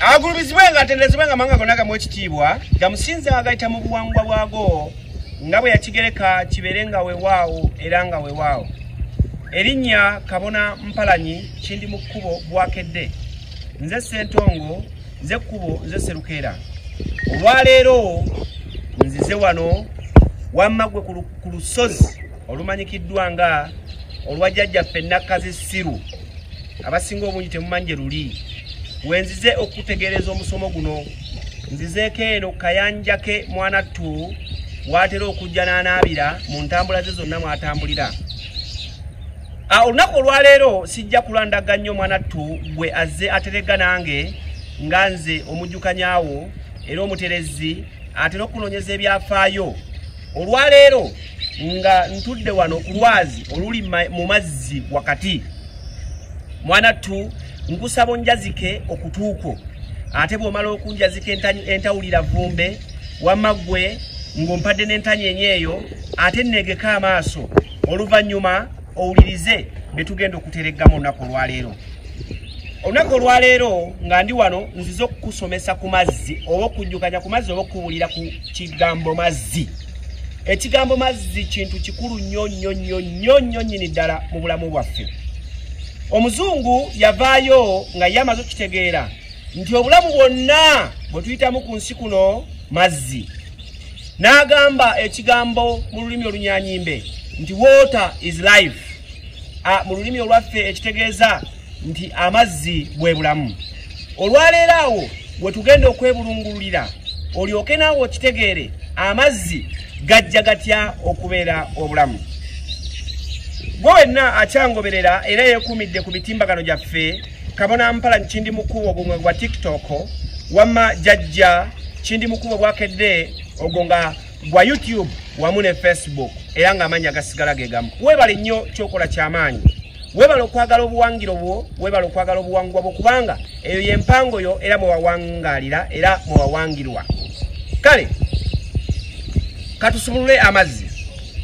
agulumizibwe nga atendezebwe nga mawanga gonna gamu ekitiibwa gamusinze agayita mu buwangwa bwago nga bwe yakigereka kibeere nga wewaawo era nga wewaawo erinnya kabona mpalanyi kindi mu kkubo bwakedde nze sentongo nze kkubo nze serukeera olwaleero nzize wano wamma gwe ku lusozi olumanyikiddwa nga olwa jjajjaffe nakkazi siru abasinga obungi temumanyi gye luli wenzize okutegeereza omusomo guno nzizeeko eno kayanjake mwanattu watera okujja n'anaabira mu ntambula ze zonna mwatambulira olunaku olwaleero sijja kulandaga nnyo mwanattu gwe azze aterega nange nga nze omujjukanyaawo era omuterezi atera okunoonyeza ebyafaayo olwaleero nga ntudde wano ku lwazi oluli mu mazzi wakati mwana tu nkusaba onjazike okutuukwo ate bw'omala okunjazika entawulira vumbe wamma ggwe ng'ompadde n'entanyi enye eyo ate nneegeka amaaso oluvannyuma owulirize bye tugenda okutereggamu olunaku olwaleero olunaku olwaleero nga ndi wano nzize okukusomesa ku mazzi oba okujjukanya ku mazzi oba okukuwulira ku kigambo mazzi ekigambo mazzi kintu kikulu nnyo nnyo nnyo nnyo nnyo nnyini ddala mu bulamu bwaffe omuzungu yavaayo nga ye amaze okukitegeera nti obulamu bwonna bwe tuyitamu ku nsi kuno mazzi n'agamba ekigambo mu lulimi olunyanyimbe nti water is life mu lulimi olwaffe ekitegeeza nti amazzi bwe bulamu olwaleero awo we tugenda okwebulungululira olyoke naawe okitegeere amazzi gajja gatya okubeera obulamu gwe wenna akyangoberera era yeekuumidde ku mitimbagano gyaffe kabona mpala nkindi mukubo obumwe gwa tiktok wama jajja kindi mukubo bwakedde ogwo nga gwa youtube wamu ne facebook era nga amanya gasigala gegamu webale nnyo kyokola kyamaanyi webale okwagala obuwangiro bwo webale okwagala obuwangwa bwo kubanga eyo yempango yo era mwewawangalira era mwewawangirwa kale katusumulule amazzi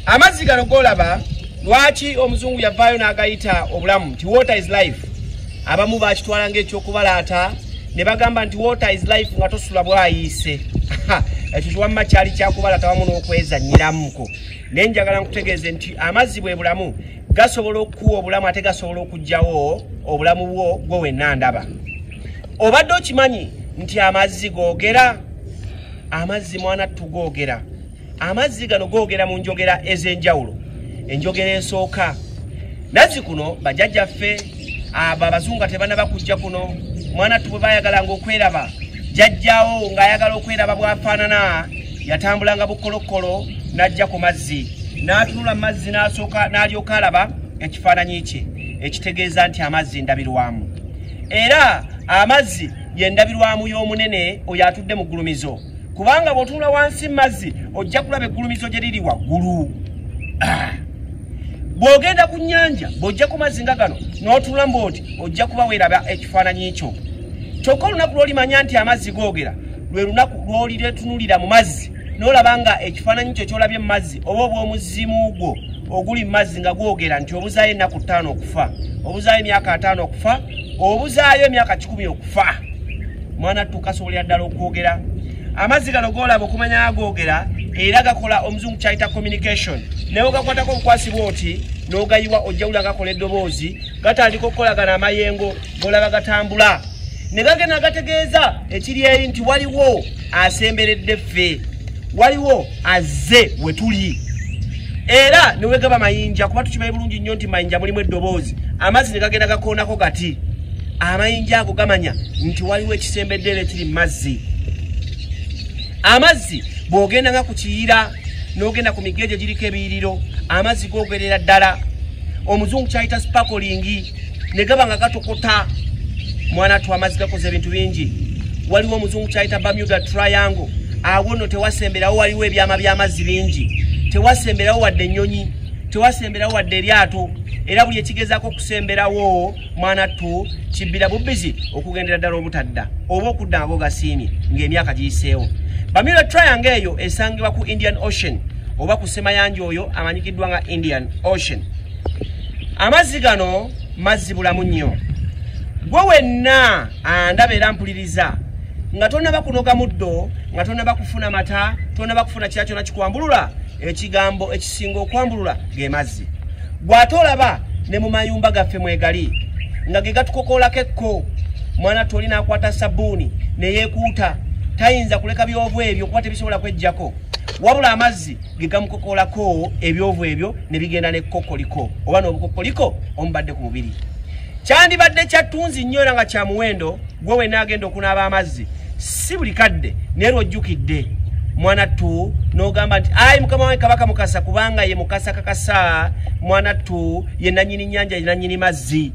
amazzi gano golaba lwaki omuzungu yavaayo n'agayita obulamu nti water is life abamu bakitwala ngaekyokubalaata ne bagamba nti water is life nga tosula bwayiise ekyo kiwamma kyali kyakubalaata wamu n'okwezanyiramuko naye njagala nkutegeeze nti amazzi bwe bulamu gasobola okukuwa obulamu ate gasobola okugyawo obulamu bwo gwe wenna ndaba obadde okimanyi nti amazzi googera amazzi mwana tugoogera amazzi gano googera mu njogera ez'enjawulo enjogera esooka nazzi kuno bajajjaffe abo abazungu tebanaba kujja kuno mwana tubwe bayagalanga okweraba jajjawo ng'ayagala okweraba bwafaanana yatambulanga bukolokkolo n'ajja ku mazzi n'atunula mu mazzi n'asooka n'alyoka alaba ekifaananyi kye ekitegeeza nti amazzi ndabirwamu era amazzi yendabirwamu y'omunene oyo atudde mu ggulumizo kubanga bw'otunula wansi mazzi ojja kulaba eggulumizo gye liri waggulu ah. bw'ogenda ku nnyanja bw'ojja ku mazzi nga gano n'otunula mbu oti ojja kuba weeraba ekifaananyi kyo kyokka olunaku lw'olimanya nti amazzi googera lwe lunaku lw'oliretunulira mu mazzi n'olaba nga ekifaananyi kyo ky'olabye mu mazzi oba obw'omuzimu gwo oguli mu mazzi nga gwogera nti obuzaayo ennaku ttaano okufa obuzaayo emyaka ataano okufa obuzaayo emyaka kikumi okufa mwana tukasobolera ddala okwogera amazzi gano golaba okumanya agogera era gakola omuzungu kyayita communication naye ogakwatako obukwasibwa oti nogayiwa ojjawula gakola eddoboozi gatandika okukolagana amayengo golaba gatambula ne gagenda gategeeza ekiri eri nti waliwo asemberedde ffe waliwo azze we tuli era ne wegaba mayinja kuba tukimanyi bulungi nnyo nti mayinja mulimu eddoboozi amazzi ne gagenda gakoonako gati amayinja ago gamanya nti waliwo ekisembedde era ekiri mu mazzi amazzi bw'ogenda nga ku kiyira n'ogenda ku migege giriko ebiyiriro amazzi googerera ddala omuzungu kyayita spakolingi ne gaba nga gatokota mwana tu amazzi gakoze ebintu bingi waliwo omuzungu kyayita bamuda triangle awo no tewasemberawo waliwo ebyama by'amazzi bingi tewasemberawo wadde ennyonyi tewasemberawo wadde eryato era buli ekigezaako okusemberawo mwana tu kibbira bubbizi okugendera ddala obutadda oba okudda nga gogasiimye ng'emyaka giyiseewo bamuda triangle eyo esangibwa ku indian ocean oba ku semayanja oyo amanyikiddwa nga indian ocean amazzi gano mazzi bulamu nnyo gwe wenna andaba era mpuliriza nga tonaba kunoga muddo nga tonaba kufuna mata tonaba kufuna kira kyona kikwambulula ekigambo ekisinga okwambulula ge mazzi gwe ate olaba ne mu mayumba gaffe mwegali nga ge gatukokoolako ekko mwana toli nakwata sabbuuni neyekuuta tayinza kuleka byovu ebyo kuba tebisobola kwejjako wabula amazzi gegamukokolako ebyovu ebyo ne bigenda ne kokoliko oba n'obukokoliko omubadde ku mubiri kyandibadde kyattunzi nnyo era nga kya muwendo gwe wenna agenda okunaaba amazzi si buli kadde naye lwojjukidde mwana ttu n'ogamba nti ayi mukama wange kabaka mukasa kubanga ye mukasa kakasa mwana ttu ye nannyini nnyanja ye nannyini mazzi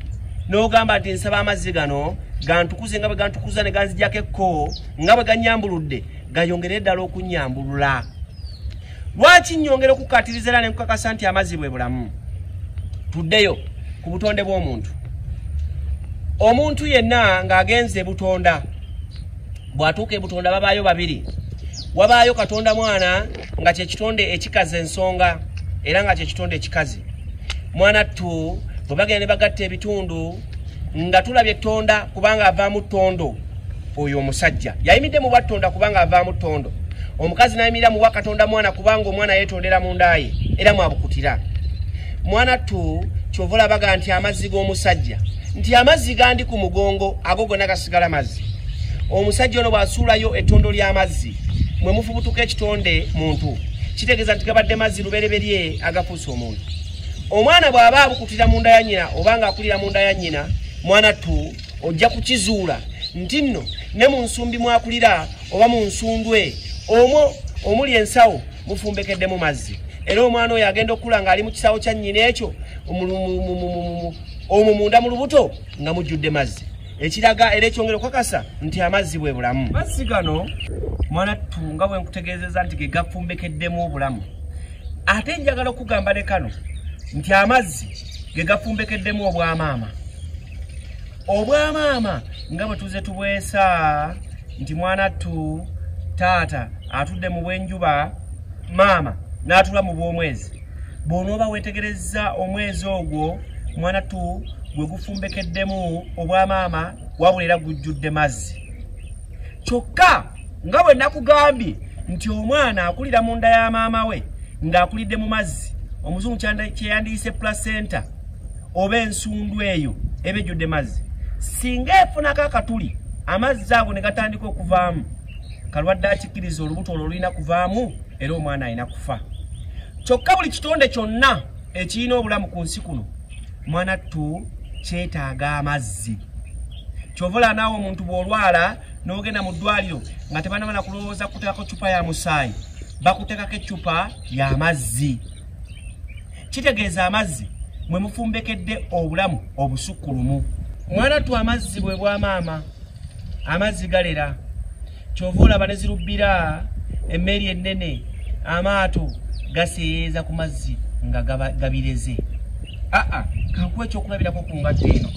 n'ogamba nti nsaba amazzi gano gantukuze nga bwe gantukuza ne ganzigyako ekko nga bwe gannyambuludde gayongere ddala okunnyambulula Lwaki nnyongera okukkaatiriza era ne nkukakasa nti amazzi bwe bulamu? Tuddeyo ku butonde bw'omuntu. Omuntu yenna ng'agenze ebutonda, bw'atuuka ebutonda babaayo babiri. Wabaayo Katonda mwana nga kye kitonde ekikazi ensonga era nga kye kitonde ekikazi. Mwana ttu bwe bagenda ne bagatta ebitundu nga tulabye tonda kubanga avaamu tondo oyo omusajja yayimidde mu bwattonda kubanga avaamu tondo omukazi nayimirira muwa katonda mwana kubanga omwana yetondera mu ndaaye era mwabukutira mwana tu kyova olabaga nti amazzi g'omusajja nti amazzi gandi ku mugongo ago gonna gasigala mazzi omusajja ono bwasuulayo ettondo ly'amazzi mwe mufubutuka ekitonde muntu kitegeeza nti gabadde mazzi lubereberye agaku omuntu omwana bw'aba abukutira mu nda ya nyina oba ng'akulira mu nda ya nyina mwana tu ojja kukizuula nti nno ne mu nsumbi mwakulira oba mu nsundwe omwo omuli ensawo mufumbekeddemu mazzi era omwana oyo agenda okukula ng'ali mu kisawo kya nyina ekyo omwo munda mu lubuto nga mujjudde mazzi ekiraga era ekyongera okukakasa nti amazzi bwe bulamu mazzi gano mwana tunga bwe nkutegeezeza nti ge gafumbekeddemu obulamu ate njagala okugamba ne kano nti amazzi ge gafumbekeddemu obwamaama obwamaama nga bwe tuze tubwesa nti mwana ttu taata atudde mu bw'enjuba maama n'atula mu bw'omwezi bw'onooba weetegerezza omwezi ogwo mwana tu gwe gufumbekeddemu obwamaama wabula era gujjudde mazzi kyokka nga bwe nakugambye nti omwana akulira mu nda ya maama we ng'akulidde mu mazzi omuzungu kyeyandiyise placenta oba ensundu eyo eba ejjudde mazzi singa efunako akatuli amazzi ago ne gatandika okuvaamu kalwadde akikkiriza olubuto olwo lulina kuvaamu era omwana alina kufa kyokka buli kitonde kyonna ekirina obulamu ku nsi kuno mwana ttu kyetaaga amazzi kyovola naawe omuntu bw'olwala n'ogenda mu ddwaliro nga tebanamana kulowooza kuteekako ccupa ya musaayi bakuteekako eccupa y'amazzi kitegeeza amazzi mwe mufumbekedde obulamu obusukkulumu mwana tu amazzi bwe bwa maama amazzi galera kyova olaba ne zirubbira emmeeri ennene amaato gaseeyeeza ku mazzi nga gabireze aa kankuwa ekyokulabirako ku ngatto eno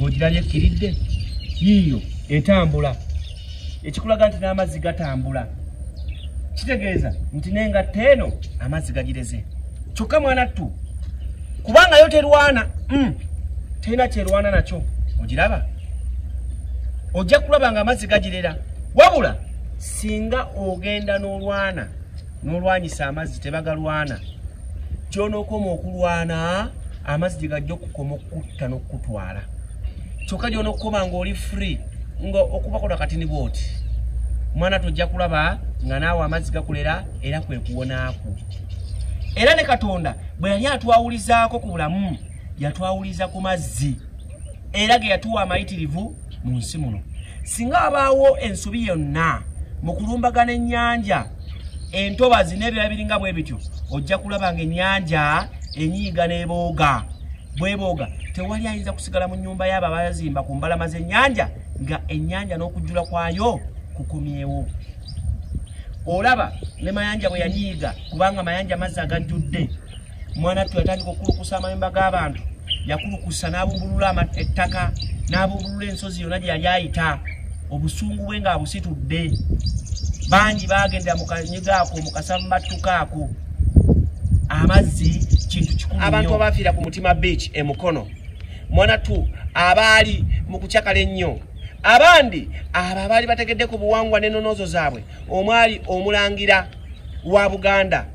ogirabye ekkiridde yiiyo etambula ekikulaga nti n'amazzi gatambula kitegeeza nti nengatta eno amazzi gagireze kyokka mwana ttu kubanga yo terwana mm, terina kyerwana nakyo ogiraba ojja kulaba nga amazzi gagirera wabula singa ogenda n'olwana n'olwanyisa amazzi tebagalwana kyonookoma okulwana amazzi gye gajja okukoma okukutta n'okukutwala kyoka gyona okukoba nga oli free nga okubakola kati ni bwoti mwana tojja kulaba nga naawe amazzi gakulera era kwekuwonaaku era ne katonda bwe yali atwawulizaako ku bulamu yatwawuliza ku mazzi era ge yatuwa amayitirivu mu nsi muno singa abaawo ensobi yonna mu kulumbagana ennyanja entobazi n'ebirala biringa bwe bityo ojja kulaba nga ennyanja enyiiga n'ebooga bwebooga tewali ayinza kusigala mu nyumba yaabo abazimba ku mbalama z'ennyanja nga ennyanja n'okujjula kwayo kukomyewo olaba ne mayanja bwe yanyiiga kubanga mayanja mazzi agajjudde mwana ttu yatandika okukulukusa amayumba g'abantu yakulukusa n'abumbulula ettaka n'abumbulula ensozi yonna gye yali ayita obusungu bwe ng'abusitudde bangi baagendera mu kanyega ako mu kasammattuka ako amazzi kintu kikulu abantu abaafiira ku mutima beach e mukono mwanatu abaali mu kucakala ennyo abandi abo abaali bategedde ku buwangwa n'enonoozo zaabwe omwali omulangira wa buganda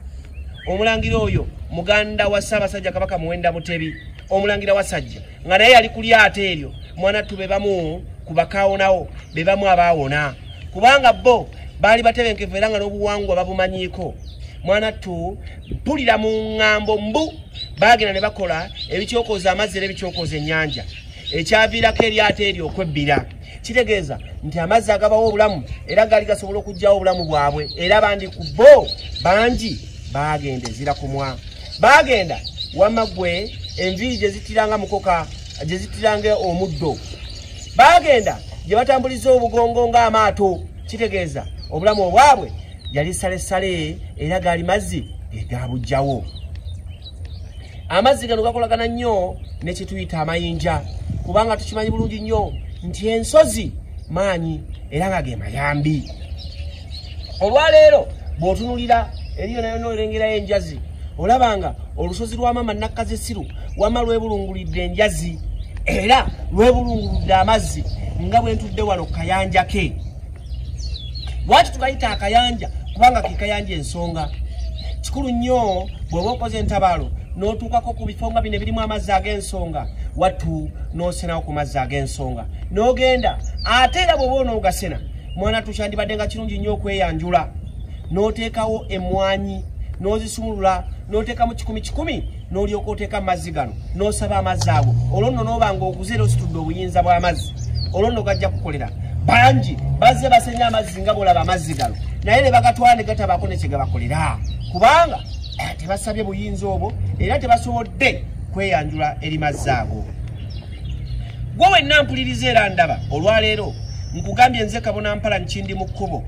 omulangira oyo muganda wa ssaabasajja kabaka muwenda mutebi omulangira wasajja nga naye yali ku lyato eryo mwana tube bamu ku bakaawonawo be bamu abaawona kubanga bo baali batebenkevu era nga n'obuwangwa babumanyiiko mwana tu mpulira mu ŋŋambo mbu baagenda ne bakola ebikyokoza amazzi era ebikyokoza ennyanja ekyaviirako eryato eryo okwebbira kitegeeza nti amazzi agabawo obulamu era gaali gasobola okugyawo obulamu bwabwe era bandi ku bo bangi baagenda ezira kumwa Baagenda wamma ggwe enviiri gye zittiranga mukoka gye zittiranga omuddo baagenda gye batambuliza obugongo ng'amaato kitegeeza obulamu obwabwe yali salesale era gaali mazzi egabujjawo amazzi gano gakolagana nnyo ne kyetuyita amayinja kubanga tukimanyi bulungi nnyo nti ensozi maanyi era nga ge mayambi olwaleero bw'otunulira eriyo nayo n'olengerayo enjazi olaba nga olusozi lwa maama nakkazisiru wama lwebulungulidde enjazi era lwebulunguludde amazzi nga bwe ntudde wano kayanja ke lwaki tukayita akayanja kubanga ke kayanja ensonga kikulu nnyo bw'oba okoze entabaalo n'otuukako ku bifo nga bino ebirimu amazzi ag'ensonga wattu n'osenawo ku mazzi ag'ensonga n'ogenda ate era bw'oba onoogasena mwana tukyandibadde nga kirungi nnyo okweyanjula n'oteekawo emmwanyi n'ozisumulula n'oteeka mu kikumi kikumi n'olyoka oteeka mu mazzi gano n'osaba amazzi ago olwo nno n'oba nga okuze era ositudde obuyinza bw'amazzi olwo nno gajja kukolera bangi bazze basenya amazzi nga bwolaba amazzi gano naye ne bagatwala ne gatabaako ne kyegabakolera kubanga eh, tebasabye buyinza obwo era tebasobodde kweyanjula eri mazzi ago gwe wenna mpuliriza era ndaba olwaleero nkugambye nze kabona mpala nkindi mu kkubo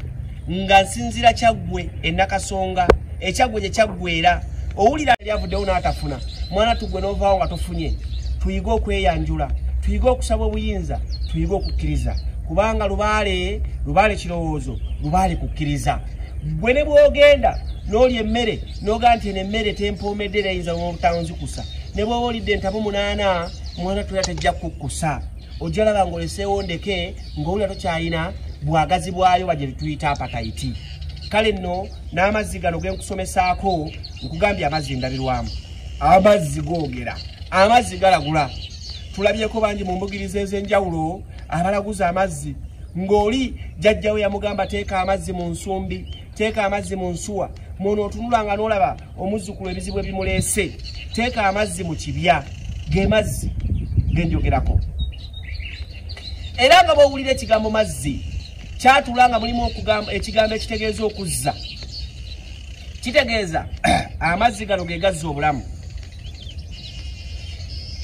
nga nsinzira kyaggwe enakasonga ekyaggwe gye kyaggweera owulira lyavuddewo n'atafuna mwana tuggwe n'ovaawo nga tofunye tuyige okweyanjula tuyige okusaba obuyinza tuyige okukkiriza kubanga lubaale lubaale kirowoozo lubaale kukkiriza gwe ne bw'ogenda n'oli emmere noga nti eno emmere tempoomedde era yinza nobutanzikusa ne bwoba olidde entabu munaana mwana toya tejja kukkusa ojja laba ngaoleseewo ndeke ngaowulira tokyalina bwagazi bwayo baje bituyita apatayiti kale nno n'amazzi gano genkusomesaako nkugambye amazzi endabirwamu amazzi googera amazzi galagula tulabyeko bangi mu mbugiriza ez'enjawulo abalaguza amazzi ng'oli jajjawe yamugamba teeka amazzi mu nsumbi teeka amazzi mu nsuwa muno otunula nga nolaba omuzzukulu ebizibu ebimuleese teeka amazzi mu kibya ge mazzi genjogerako era nga bwowulira ekigambo mazzi kyatula nga mulimu ekigambo ekitegeeza okuzza kitegeeza amazzi gano gegazza obulamu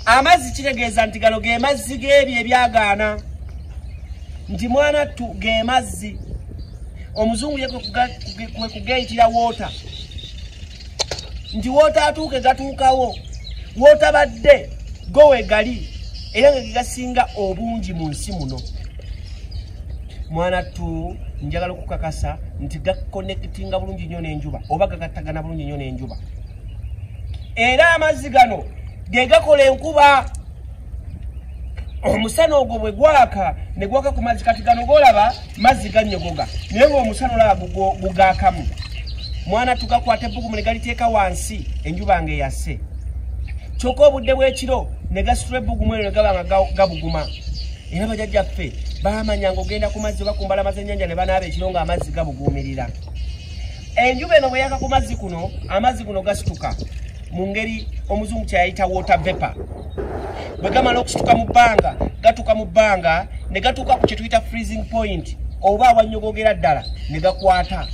amazzi kitegeeza nti gano ge mazzi g'ebyo ebyagaana nti mwana ttu ge mazzi omuzungu ye kwe kugeyitira woota nti woota atuuke gatuukawo wootabadde go wegali era nga gegasinga obungi mu nsi muno mwana ttu njagala okukakasa nti gakonekitinga bulungi nnyo n'enjuba oba gagattagana bulungi nnyo n'enjuba era amazzi gano ge gakola enkuba omusana ogwo bwe gwaka ne gwaka ku mazzi kati gano golaba mazzi ganyogoga naye ngaomusana olaba gugakamu mwana tugakwata ebbugumu ne galiteeka wansi enjuba nga eyase kyokka obudde bw'ekiro ne gasitula ebbugumu eryo ne gaba nga gabuguma era bajajja ffe baamanya ngaogenda ku mazzi oba ku mbalama z'ennyanja ne banaaba ekiro ng'amazzi gabuguumirira enjuba eno bweyaka ku mazzi kuno amazzi guno gasituka mu ngeri omuzungu kyeyayita water vapor bwe gamala okusituka mu bbanga gatuka mu bbanga ne gatuuka ku kyetuyita freezing point oba awanyogogera ddala ne gakwata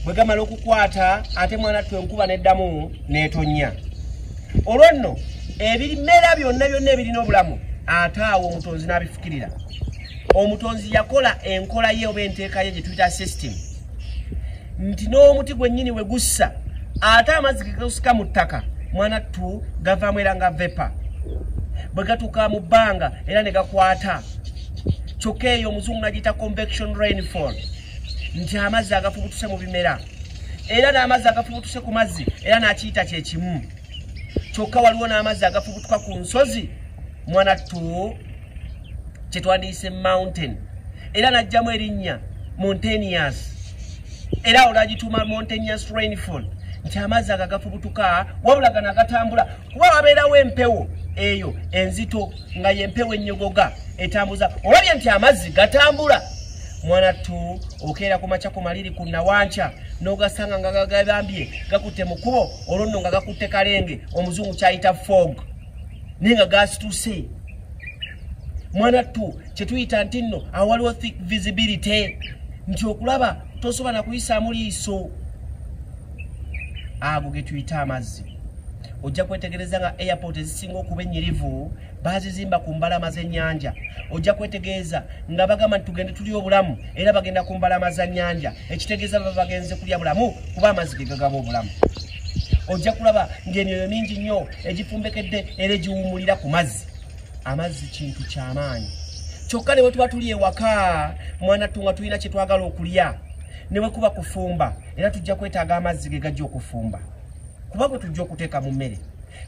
bwe gamala okukwata ate mwana twe enkuba neddamu netonnya olwo nno ebimera byonna byonna ebirina obulamu ate awo omutonzi n'abifukirira omutonzi yakola enkola ye oba enteeka ye gye tuyita system nti n'omuti gwennyini we gussa ate amazzi gegausika mu ttaka mwana ttu gavaamu era nga vepa bwe gatuuka mu bbanga era ne gakwata kyokka eyo omuzungu nagiyita convection rainfall nti amazzi agafubutuse mu bimera era n'amazzi agafubutuse ku mazzi era n'akiyita kye kimu kyokka waliwo n'amazzi agafubutuka ku nsozi mwana tu kyetwandiyise mountain era najjamu erinnya montanias era awo nagituuma montanias rainfall nti amazzi ago agafubutuka wabula gano agatambula kuba wabeerawo empewo eyo enzito nga yempewo ennyogoga etambuza olabye nti amazzi gatambula mwana tu okeera ku makya ku maliri ku nawankya n'ogasanga nga gagabambye gakutte mu kubo olwo nno nga gakutte kalenge omuzungu kyayita fog naye nga gasituse mwana ttu kyetuyita nti nno awaliwo thick visibility nti okulaba tosobola na kuyisaamu liiso ago getuyita amazzi ojja kwetegereza nga airport ezisinga okuba enyirivu bazizimba ku mbalama z'ennyanja ojja kwetegeeza nga bagamba nti tugende tuli obulamu era bagenda ku mbalama za nnyanja ekitegeeza baba bagenze kulya bulamu kuba amazzi ge gagaba obulamu ojja kulaba ng'emyoyo mingi nnyo egifumbekedde era egiwumulira ku mazzi amazzi kintu ky'amaanyi kyokka ne bwe tuba tuli ewaka mwana ttu nga tulina kye twagala okulya ne bwe kuba kufumba era tujja kwetaaga amazzi ge gajja okufumba kuba gwe tujja okuteeka mu mmere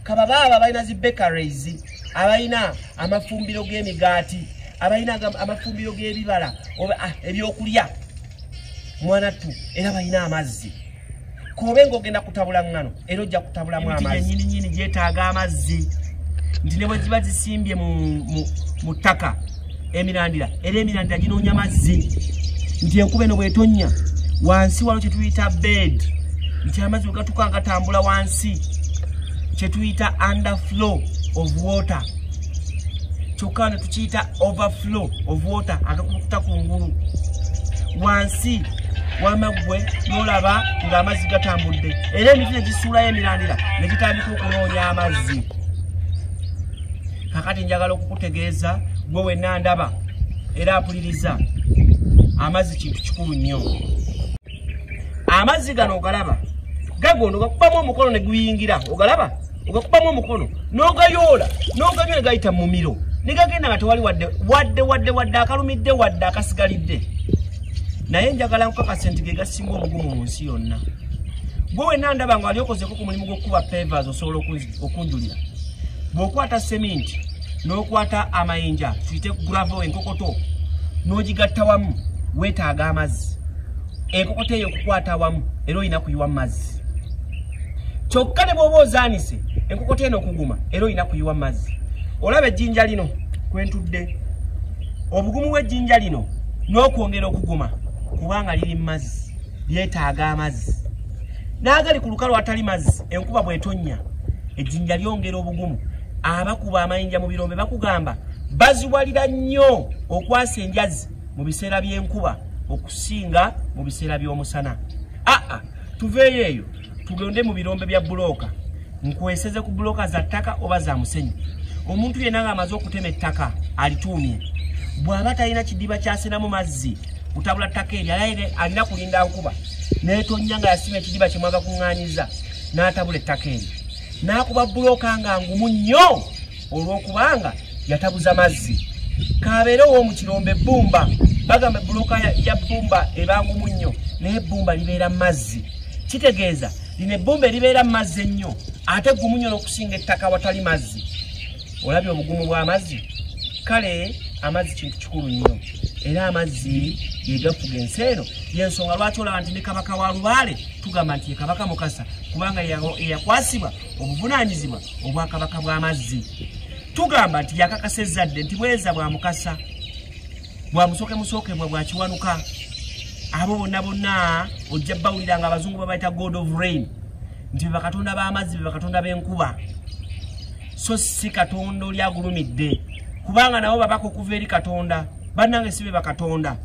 kababa abo abalina zi bakeries abalina amafumbiro g'emigaati abalina amafumbiro g'ebibala oba ah, ebyokulya mwanattu era balina amazzi kobe ng'ogenda kutabula ŋŋano era ojja kutabulamu amazinyininyini gyetaaga amazzi nti ne bwe ziba zisimbye mu ttaka emirandira era emirandira ginoonya mazzi nti enkuba eno bwetonnya wansi waliwo kyetuyita bed nti amazzi wegatuka agatambula wansi kyetuyita under flow of water kyokka ne tukiyita overflow of water agakukuta ku ngulu wansi wamaggwe nolaba ng'amazzi gatambudde era emiti ne gisuulayo emirandira ne gitandika okunoonya amazzi kakati njagala okukutegeeza gwe wenna ndaba era apuliriza amazzi kintu kikulu nnyo amazzi gano ogalaba gagondo gakubamu omukono ne guyingira ogalaba ogakubamu omukono n'ogayoola n'oganywa ne gayita mu mumiro ne gagenda nga tewali wadde wadde wadde wadde akalumidde wadde akasigalidde naye njagala nkukakase nti ge gasinga obugumu mu nsi yonna gwe wenna ndaba nga wali okozeko ku mulimu gw'okukuba pevers osobola okunzija okunjulira bw'okwata seminti n'okwata amayinja tuyite gravo enkokoto n'ogigatta wamu weetaaga amazzi enkokoto eyo okukwata wamu era olina kuyiwa mu mazzi kyokka ne bw'oba ozaanise enkokoto eno okuguma era olina kuyiwa mu mazzi olaba ejjinja lino kwentudde obugumu bw'ejjinja lino n'okwongera okuguma kubanga liri mu mazzi byetaaga amazzi n'agali ku lukalu atali mazzi enkuba bw'etonnya ejjinja lyongera obugumu abakuba amayinja mu birombe bakugamba baziwalira nnyo okwasa enjazi mu biseera by'enkuba okusinga mu biseera by'omusana aa tuveeyo eyo tugende mu birombe bya bulooka nkweseze ku bulooka za ttaka oba za musenyu omuntu yenna ng'amaze okutema ettaka alituumye bw'aba talina kidiba kyasinamu mazzi kutabula ttaka eryo alaire alina kulinda nkuba netonnya nga yasima ekidiba kyemwaga kuŋŋanyiza n'atabula ettaka eryo n'akuba bulooka nga ngumu nnyo olw'okubanga yatabuza mazzi kabeere ow'omu kirombe ebbumba bagamba ebbulooka ya bbumba ebangumu nnyo naye ebbumba libeera mu mazzi kitegeeza lino ebbumba eribeera mu mazzi ennyo ate gumu nnyo n'okusinga ettaka watali mazzi olabye obugumu bw'amazzi kale amazzi kintu kikulu nnyo era amazzi yegafuga ensi eno yensonga lwaki olaba nti ne kabaka wa lubaale tugamba nti ye kabaka mukasa kubanga eyakwasibwa obuvunaanyizibwa obwakabaka bw'amazzi tugamba nti yakakasa ezzadde nti bweza bwa mukasa bwa musooke musookebwa bwa kiwanuka abo bonna bonna ojja bawulira nga abazungu babaita god of rain nti bebakatonda b'amazzi bebakatonda b'enkuba so si katonda oli agulumidde kubanga nabo babaka okuva eri katonda banange sibe bakatonda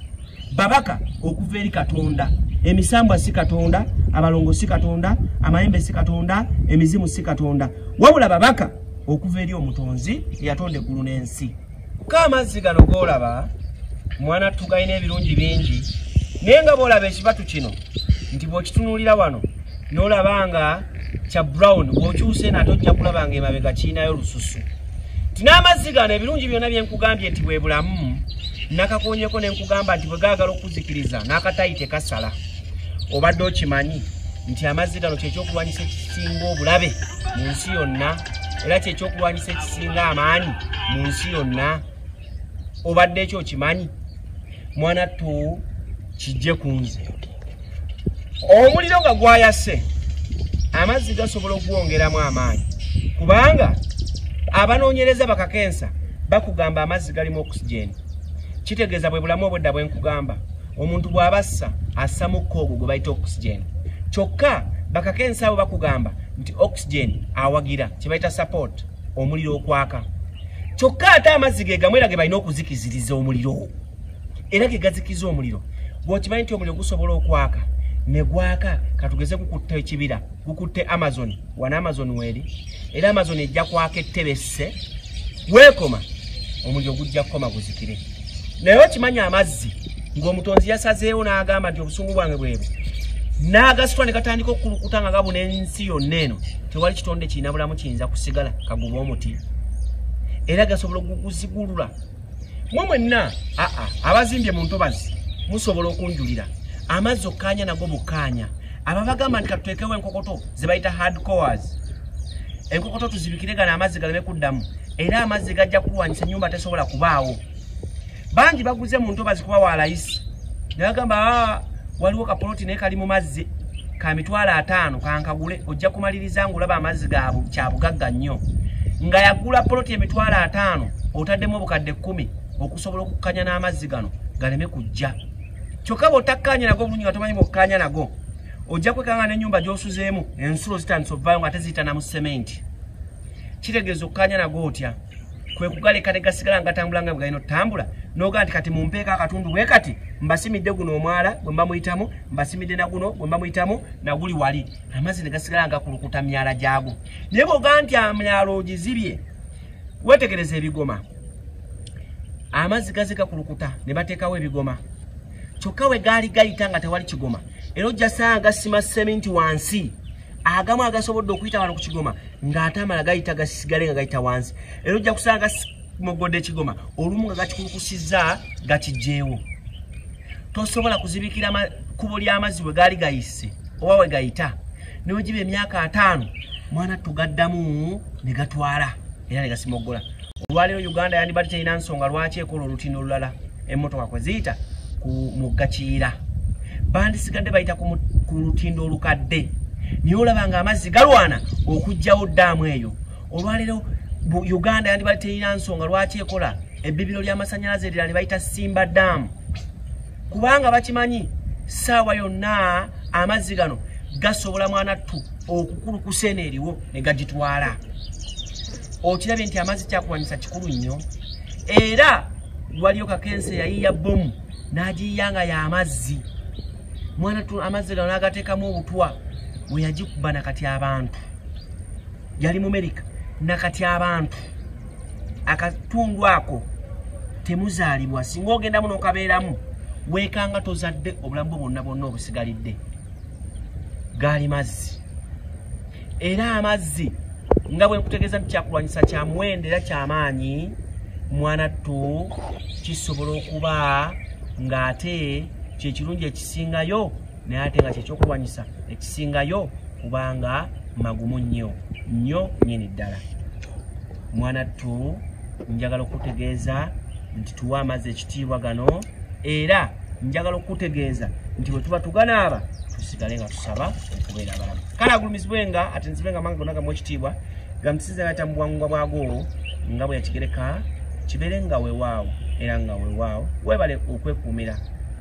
babaka okuva eri katonda emisambwa si katonda abalongo si katonda amayembe si katonda emizimu si katonda wabula babaka okuva eri omutonzi eyatonda eggulu n'ensi ko amazzi gano golaba mwana tugalina ebirungi bingi naye nga bolaba ekibatu kino nti bwokitunulira wano nolaba nga kya brown bwokyuse nate ojja kulaba nga emabega kirinayo lususu nti n'amazzi gano ebirungi byonna bye nkugambye nti bwe bulamu nakakuwonyeko ne nkugamba nti bwe gaagala okukuzikiriza n'akatayi tekasala obadde okimanyi nti amazzi gano kyekyokulwanyisa ekisinga obulabe mu nsi yonna era kyekyokulwanyisa ekisinga amaanyi mu nsi yonna obadde ekyo okimanyi mwana tu kijje kunze omuliro nga gwayase amazzi gasobola okugwongeramu amaanyi kubanga abanoonyereza bakakensa bakugamba amazzi galimu oxygen kitegeeza bwe bulamu obwedda bwe nkugamba omuntu bw'aba assa assa mukka ogwo gwe bayita oxygen kyokka bakakensa abo bakugamba nti oxygen awagira kye bayita support omuliro okwaka kyokka ate amazzi ge gamu era ge balina okuzikiziriza omuliro era ge gazikiza omuliro bw'okimanyi nti omuliro gusobola okwaka ne gwaka katugeze gukutte ekibira gukutte amazon wana amazon weeri era amazon ejja kwaka ettebesse weekoma omuliro gujja kukoma guzikire naye okimanyi amazzi ng'omutonzi yasazeewo n'agamba nti obusungu bwange bwebwo n'agasitwa ne gatandika okukulukuta nga gabuna ensi yonna eno tewali kitonde kirina bulamu kiyinza kusigala kaguba omuti era gasobola okuguzigulula mwe mwenna aa abazimbye mu ntobazi musobola okunjulira amazzi okkaanya nago bukkaanya ababagamba nti katuteekewo enkokoto ze bayita hard cores enkokoto tuzibikire gano amazzi galeme kuddamu era amazzi gajja kulwanyisa enyumba tesobola kubaawo bangi baguze mu ntobazi kuba wa layisi nagamba ah, waliwo kapoloti naye kali mu mazzi ka mitwalo ataano kankagule ojja kumaliriza ngaolaba amazzi gabu kyabugagga nnyo nga yagula poloti emitwalo ataano otaddemu obukadde kkumi okusobola okukkanya n'amazzi gano galeme kujja kyokka bwotakkaanya nago obulungi nga tomanyi bwokkaanya nago ojja kwekanga n'ennyumba gy'osuzeemu ensulo zitandisa ovaayo nga teziyitana mu sementi kitegeeza okukanya nago otya kwe kugaleka ne gasigala nga gatambula nga bwe galina otutambula nogaa nti kati mumpeeko akatundu bwe kati mbasimidde guno omwala gwe mba muyitamu mbasimidde na guno gwe mba muyitamu naguli wali amazzi ne gasigala nga kulukuta myala gyago naye bwogaa nti amyalo ogizibye wetegereza ebigoma amazzi gazika kulukuta ne bateekawo ebigoma kyokka we gaali gayita nga tewali kigoma era ojjasanga sima seminti wansi agamu agasobodde okuyita wano ku kigoma ng'ate amala gayita gasigale nga gayita wansi era ojja kusanga mogodde ekigoma olumu nga gakikulukusizza gakijjeewo tosobola kuzibikira kkubo ly'amazzi bwe gaali gayise oba we gayita newegiba emyaka ataano mwana tugaddamu ne gatwala era ne gasimoggola olwaleero uganda yandibadde terina nsonga lwaki ekola olutindo olulala emmotoka kwe ziyita ku mugga kiyira bandisigadde bayita ku lutindo olukadde naye olaba nga amazzi galwana okugjawo daamu eyo olwaleero uganda yandibadde terina nsonga lwaki ekola ebbibiro ly'amasanyalaze erira ne bayita simba daamu kubanga bakimanyi saawa yonna amazzi gano gasobola mwanattu okukulukusa eno eriwo ne gagitwala okirabye nti amazzi kyakulwanyisa kikulu nnyo era waliyo kakensa eyayiiya bbomu n'agiyiya nga y'amazzi mwana tu amazzi gano n'agateekamu obutwa we yagikuba na kati abantu yali mu merika na kati abantu akatundu ako temuzaalibwa singa ogendamu n'okabeeramu weekanga tozadde obulamu bwo bwonna bwonna obusigalidde gaali mazzi era amazzi nga bwe nkutegeeza nti kyakulwanyisa kya muwendo era kyamaanyi mwana ttu kisobola okuba ng'ate kyekirungi ekisingayo naye ate nga kyekyokulwanyisa ekisingayo kubanga magumu nnyo nnyo nyini ddala mwana ttu njagala okutegeeza nti tuwa amazzi ekitiibwa gano era njagala okutegeeza nti bwe tuba tuganaaba tusigale nga tusaba okubeera abalamu kale agulumizibwe nga ate nzibe nga manga gonna gamu ekitiibwa gamusinza nga tamubuwangwa bwago nga bwe yakigereka kibeere nga wewaawo era nga wewaawo webale okwekuumira